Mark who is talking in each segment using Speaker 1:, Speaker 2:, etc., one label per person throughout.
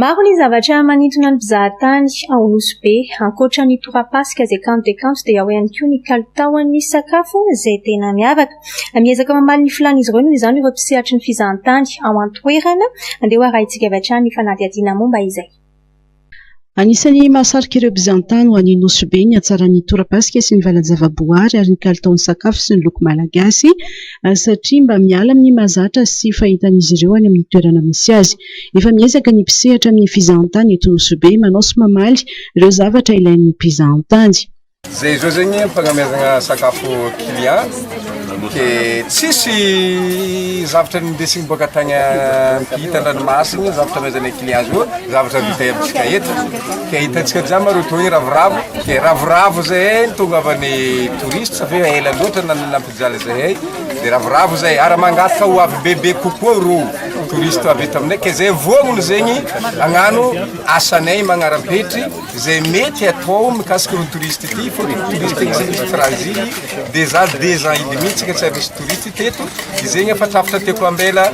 Speaker 1: Maro ny zavatra manintona ny mpizahatany ao Nosy Be. Ankoatra ny torapasika izay kanto dia kanto dia ao ihany koa ny kalitaon'ny sakafo izay tena miavaka. Miezaka mamaly ny filàn'izy ireo noho izany ireo mpisehatry ny fizahantany ao an-toerana. Andeha ho arahintsika avy hatrany ny fanadihadiana momba izay.
Speaker 2: Anisan'ny mahasarika ireo mpizahantany ho any Nosy Be ny hatsaran'ny torapasika sy ny valan-javaboahary ary ny kalitaon'ny sakafo sy ny loko malagasy satria mba miala amin'ny mahazatra sy fahitan'izy ireo any amin'ny toerana misy azy. Efa miezaka ny mpisehatra amin'ny fizahantany eto Nosy-Be manao sy mamaly ireo zavatra ilain'ny mpizahantany. Zay zao
Speaker 3: zegny fagnameazagna sakafo client ke tsisy zavatra nindesigny boaka tagny ampita andranomasigny zavatra amezanay client zao zavatra vita amitsika eto ke hitantsika jiaby mareo toa hoe ravoravo ke ravoravo zay tonga avany touriste fa ela loatra Mijaly zay hay de ravoravo zay ary mangataka ho avy bebe kokoa ireo touristes avy eto aminay ka zay voaminy zegny agnano asanay magnarapetry zay mety atao mikasika ireo touristes ity fa ny touristes tsy misy raha izigny de za deux ans hidiny mintsy ka tsy ary nisy touristes teto de zegny efa trafitra tiako ambela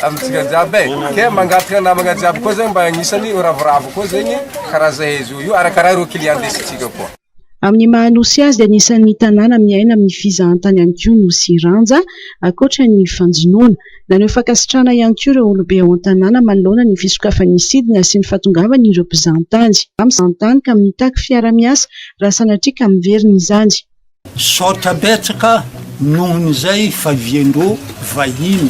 Speaker 3: amintsika jiaby e ke mangataka namagna jiaby koa zay mba agnisany ravoravo koa zegny karaha zahay zao io arakaraha ireo clients ndesintsika koa. Amin'ny maha Nosy
Speaker 2: azy dia anisan'ny tanàna miaina amin'ny fizahantany ihany koa Nosy Iranja, ankoatra ny fanjonoana. Naneho fankasitrahana ihany koa ireo olobe ao an-tanàna manoloana ny fisokafan'ny sidina sy ny fahatongavan' ireo mpizahantany ka mitaky fiarahamiasa raha sanatria ka miverina izany. Misaotra
Speaker 4: betsaka noho ny izay favian-dro vahiny.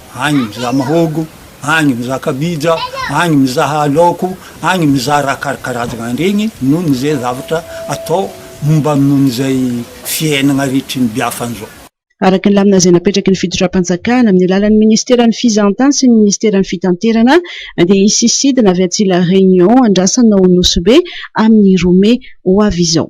Speaker 4: agny mizaha mahogo, agny mizaha kabija, agny mizaha laoko, agny mizaha raha karakarazagna an'iregny noho ny ze zavatra atao momba noho ny zay fiaignagna rehetry ny biafagna zao. Araka ny lamina
Speaker 2: izay napetraky ny fitondram-panjakana amin'ny alalan'ny Ministeran'ny Fizahantany sy ny Ministeran'ny Fitanterana dia hisy sidina avy atsy La Réunion andrasana ao Nosy-Be amin'ny roa mey ho avy izao.